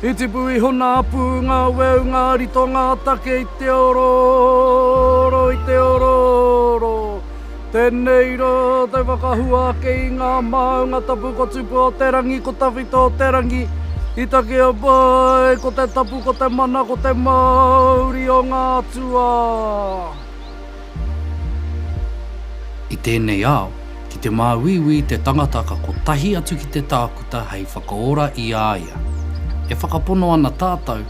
I tipu iho nā pū ngā weu ngā rito ngā take i te orooro i te orooro Tēnei rā te whakahua ake i ngā māunga tapu ko Tupu o te rangi ko Tawhito o te rangi I takea mai ko te tapu ko te mana ko te māuri o ngā atua. I tēnei ao, ki te māuiui te tangata ka kotahi atu ki te tākuta hei whakaora i a ia. E whakapono ana tātou,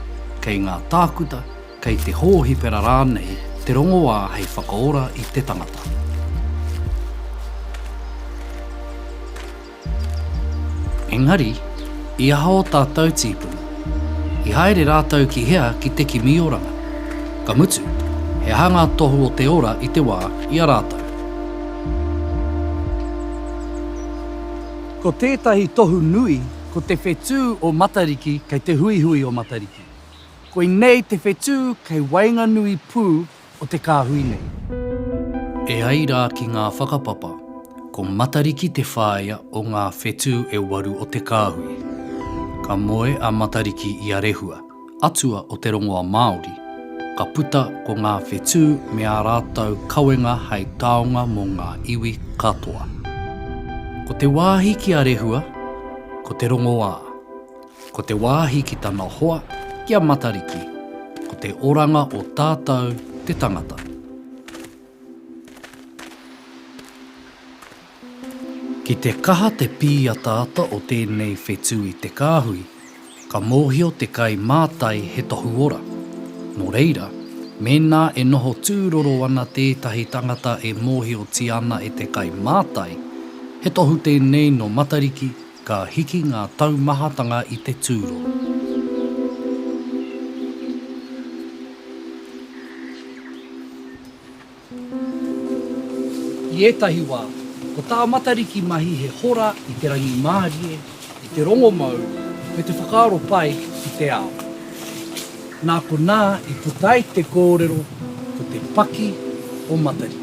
kei ngā tākuta, kei te hōhipera rānei te rongoā hei whakaora i te tangata. Engari, i aha ō tātou tīpuna? I haere rātou ki hea ki te kimi oranga? Ka mutu, he aha ngā tohu o te ora i te wā i a rātou? Ko tētahi tohu nui, ko te whetū o Matariki kei te huihui o Matariki. Koinei te whetū kei waenganui pū o te kāhui nei. E ai rā ki ngā whakapapa, ko Matariki te whāea o ngā whetū e waru o te kāhui. Ka moe a Matariki i a Rehua, atua o te rongoa Māori, ka puta ko ngā whetū me ā rātou kawenga hei taonga mō ngā iwi katoa. Ko te wāhi ki a Rehua, ko te rongoā. Ko te wāhi ki tana hoa, ki a Matariki, ko te oranga o tātou te tangata. Ki te kaha te pīataata o tēnei whetū i te kāhui, ka mōhio te kai mātai he tohu ora. Nō reira, mēnā e noho tūroro ana tētahi tangata e mōhiotia ana e te kai mātai, he tohu tēnei nō Matariki Ka hiki ngā taumahatanga i te tūro. I ētahi wā, ko tā Matariki mahi he hora i te rangimārie, i te rongomau, me te whakaaro pai ki te ao. Nā konā i puta ai te kōrero ko te paki o Matariki.